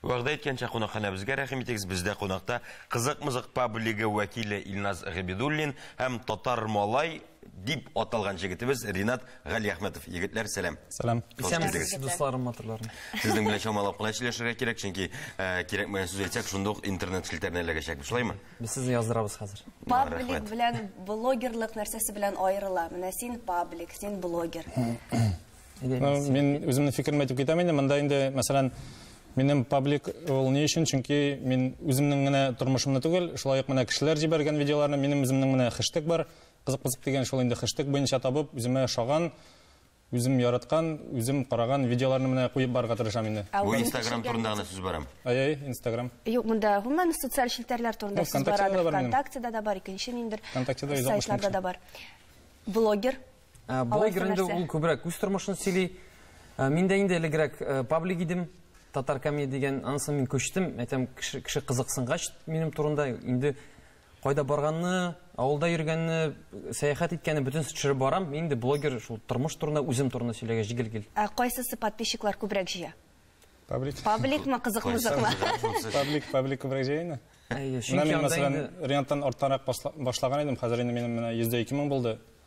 Вәгъдә иткәнчә кунакханәбезгә рәхим итегез. Бездә кунакта Кызык-мызык паблигы вәкиле Илназ Габидуллин һәм Татар малай дип аталган җегетебез Ринат Галиәхмәтов. Егетләр, сәлам. Сәлам. Исәнмесез, дусларым, матурларым. Сезнең белән чамалап кына сөйләшергә кирәк, чөнки э, кирәкмәгән сүз әйтсәк, шундук ук интернет челтәренә эләгәчәкбез, шулаймы? Без сезне яздырабыз хәзер. Паблик белән блогерлык нәрсәсе белән аерыла? Менә син паблик, син блогер. Мин үземнең фикерем әйтеп китәм инде. Монда инде, мәсәлән, минем паблик ул ни өчен? Чөнки мин үземнең генә тормышымны түгел, шулай ук менә кешеләр җибәргән видеоларны, минем үземнең менә хэштег бар, кызык-кызык дигән шул инде хэштег буенча табып, үземә ошаган, үзем яраткан, үзем караган видеоларны менә куеп барырга тырышам инде. Бу Instagram турында гына сүз барам. Әй-әй, Instagram. Юк, монда гомумән социаль челтәрләр турында сүз бара. ВКонтактеда да бар, икенче ниндер. ВКонтактеда 160 мең. Сайтларда да бар. Блогер Ә, блогер инде нәрсә? ул күбрәк үз тормышын сөйли. Ә, Мин дә инде элегрәк ә, паблик идем, татар комедия дигән, анысы мин күчтем. Әйтәм, кеше, кеше кызыксынгач минем турында, инде кайда барганны, авылда йөргәнне, сәяхәт иткәнне бөтенесе төшереп барам. Мин инде блогер шул тормыш турында, үзем турында сөйләгәч җигел гел. Ә кайсысы подписчиклар күбрәк җыя? Паблик. Пабликмы, кызык-мызыкмы? Паблик, паблик күбрәк җыя инде. Әйе, Менә чөнки мин, анда мәсәлән, инде Рианттан арттанрак басла- башлаган идем, хәзер инде минем менә йөз дә ике мең булды.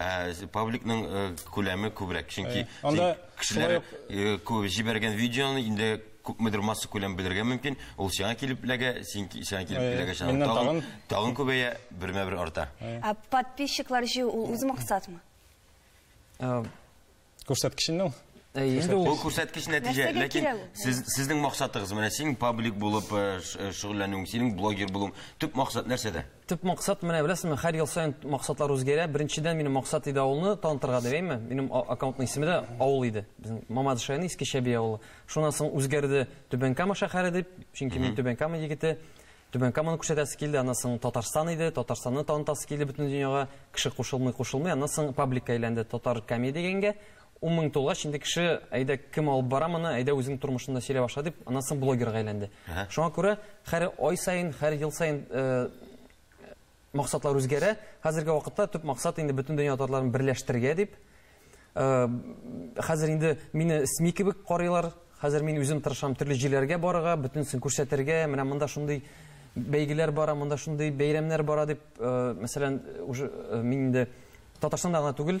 Ә, пабликның э, күләме күбрәк, чөнки Э, анда син кешеләр шулай э, кү- җибәргән видеоны инде күпмедер масса күләм белергә мөмкин. Ул сиңа килеп эләгә, син ки- сиңа килеп Э, эләгә. Сиңа миннән тагын, тагын- тагын күбәя, бермә-бер арта. Ә подписчиклар җыю ул үз максатмы? Э, Күрсәткечен ну. Инде ул күрсәткеч нәтиҗә, ләкин сез сезнең максатыгыз менә син паблик булып э, э, шөгыльләнүең, синең блогер булуың. Төп максат нәрсәдә? Төп максат менә беләсезме, һәр ел саен максатлар үзгәрә. Беренчедән минем максат иде авылны танытырга дигәйме. Минем аккаунтның исеме дә авыл иде. Безнең Мамадыш районы Иске Чәби авылы. Шуннан соң үзгәрде Түбән Кама шәһәре дип, чөнки мин Түбән Кама егете. Түбән Каманы күрсәтәсе килде, аннан соң Татарстан иде, Татарстанны танытасы килде бөтен дөньяга, кеше кушылмый-кушылмый, аннан соң пабликка әйләнде Татар Камеди дигәнгә, ун мең тулгач, инде кеше, әйдә, кем алып бара моны, әйдә үзең тормышыңны сөйлә башла дип, аннан соң блогерга әйләнде. Шуңа күрә һәр ай саен, һәр ел саен Максатлар үзгәрә. Хәзерге вакытта төп максат инде бөтен дөнья татарларын берләштерергә дип. Хәзер инде мине СМИ кебек карыйлар. Хәзер мин үзем тырышам төрле җирләргә барырга, бөтенесен күрсәтергә. Менә монда шундый бәйгеләр бара, монда шундый бәйрәмнәр бара дип, мәсәлән, уже мин инде Татарстанда гына түгел,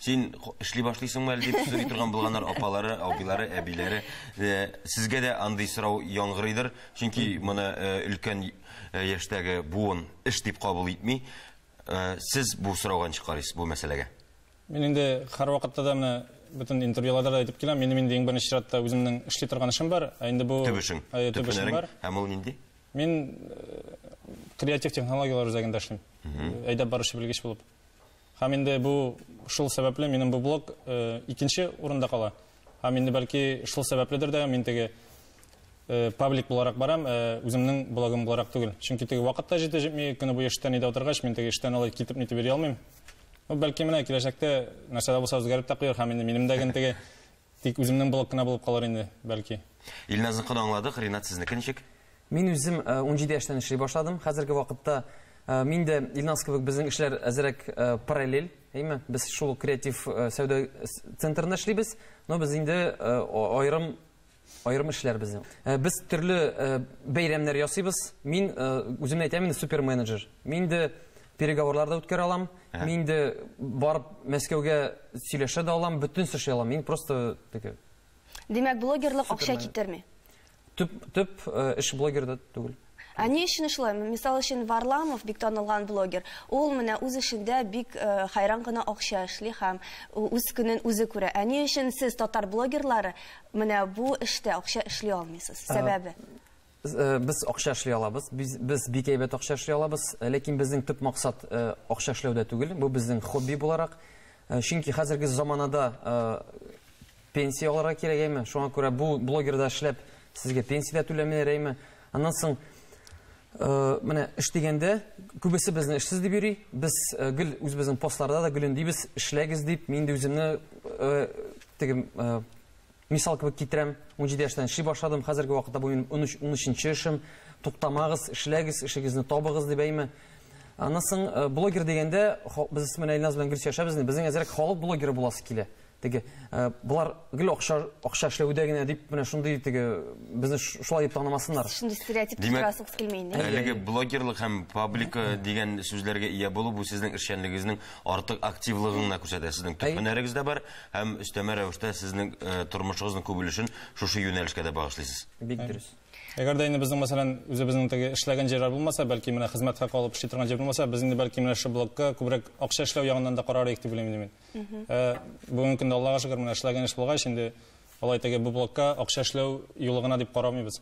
Син эшли башлыйсыңмы әле дип сорый торган булганнар апалары, абыйлары, әбиләре. Э, Сезгә дә андый сорау яңгырыйдыр, чөнки моны э, өлкән э, яшьтәге буын эш дип кабул итми. Э, Сез бу сорауга ничек карыйсыз бу мәсьәләгә? Мин инде һәрвакытта да менә бөтен интервьюларда да әйтеп киләм, минем инде иң беренче чиратта үземнең эшли торган эшем бар, ә инде бу Төп эшең, Ә, төп эшем һөнәрең бар. һәм ул нинди? Мин э, креатив технологияләр үзәгендә эшлим. Әйдәп баручы белгеч булып. Һәм инде бу шул сәбәпле минем бу блог икенче урында кала. Һәм инде бәлки шул сәбәпледер дә мин теге паблик буларак барам, үземнең блогым буларак түгел. Чөнки теге вакыт та җитә җитми, көне буе эштән өйдә утыргач, мин теге эштән алай китеп нитеп йөри алмыйм. Ну, бәлки менә киләчәктә нәрсә дә булса үзгәреп тә куяр һәм инде минем дә гел теге Тик үземнең блог кына булып калыр инде, бәлки. Илназныкын аңладык, Ринат сезнеке ничек? Мин үзем унҗиде яшьтән эшли башладым. Хәзерге вакытта мин дә Илназ кебек безнең эшләр әзерәк параллель, әйме? Без шул креатив сәүдә центрында эшлибез, но без инде аерым аерым эшләр безнең. Без төрле бәйрәмнәр ясыйбыз. Мин үземне әйтәм инде суперменеджер. Мин инде Переговорлар да үткәрә алам. Мин инде барып Мәскәүгә сөйләшә дә алам, бөтен нәрсә эшли алам. Мин просто теге. Димәк, блогерлык акча китерми. Төп төп э, эш блогерда түгел. Ә ни өчен шулай? Мисал өчен Варламов бик танылган блогер. Ул менә үз эшендә бик э, хайран гына акча эшли һәм үз көнен үзе күрә. Ә ни өчен сез татар блогерлары менә бу эштә акча эшли алмыйсыз? Сәбәбе? Без акча эшли алабыз, без бик әйбәт акча эшли алабыз, ләкин безнең төп максат акча эшләүдә түгел, бу безнең хобби буларак. Чөнки хәзерге заманада пенсия алырга кирәк әйме, шуңа күрә бу блогерда эшләп сезгә пенсия дә түләмиләр әйме. Аннан соң менә эш дигәндә күбесе безне эшсез дип йөри, без гел үзебезнең постларда да гел өндибез, эшләгез дип, мин инде үземне теге Мисал кебек китерәм, унҗиде яшьтән эшли башладым, хәзерге вакытта бу минем унөч, унөченче эшем. Туктамагыз, эшләгез, эшегезне табыгыз, дип әйме. Аннан соң э, блогер дигәндә, без менә Илназ белән Гөлсия яшәбез, безнең әзрәк халык блогеры буласы килә теге э, болар гел акча акча эшләүдә генә дип менә шундый теге безне шулай дип танымасыннар шундый стереотип тудырасыгыз килми инде әлеге блогерлык һәм паблика дигән сүзләргә ия булу бу сезнең эшчәнлегегезнең артык активлыгын гына күрсәтә сезнең төп һөнәрегез дә бар Һәм өстәмә рәвештә сезнең э, тормышыгызның күп өлешен шушы юнәлешкә дә багышлыйсыз. Бик дөрес. Әгәр дә инде безнең, мәсәлән, үзебезнең теге эшләгән җирләр булмаса, бәлки менә хезмәт хакы алып эшли торган җир булмаса, без инде бәлки менә шул блокка күбрәк акча эшләү ягыннан да карар идек дип уйлыйм мин. Ә, бүгенге көндә Аллага шөкер, менә эшләгән эш булгач, инде алай теге бу блокка акча эшләү юлы гына дип карамыйбыз.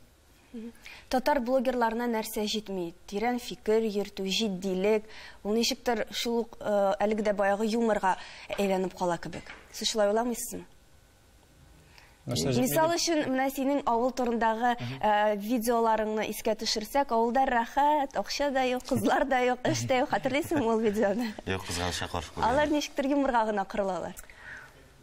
Татар блогерларына нәрсә җитми? Тирән фикер йөртү, җитдилек. Ул ничектер шул ук әлеге дә баягы юморга әйләнеп кала кебек. Сез шулай уйламыйсызмы? Мисал өчен, менә синең авыл турындагы видеоларыңны искә төшерсәк, авылда рәхәт, акча да юк, кызлар да юк, эш тә юк. Хәтерлисеңме ул видеоны? Юк, кызганычка каршы күрмәдем. Алар ничектер юморга гына корылалар.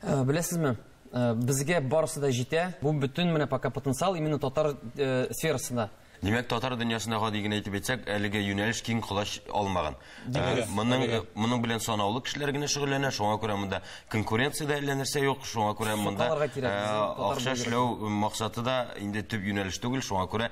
Э, беләсезме, э, безгә барысы да җитә. Бу бөтен менә пока потенциал именно татар э, сферасында. Димәк, татар дөньясына гади генә әйтеп әйтсәк, әлеге юнәлеш киң колач алмаган. Ә, моның моның белән санаулы кешеләр генә шөгыльләнә, шуңа күрә монда конкуренция дә әллә нәрсә юк, шуңа күрә монда э, акча эшләү максаты да инде төп юнәлеш түгел, шуңа күрә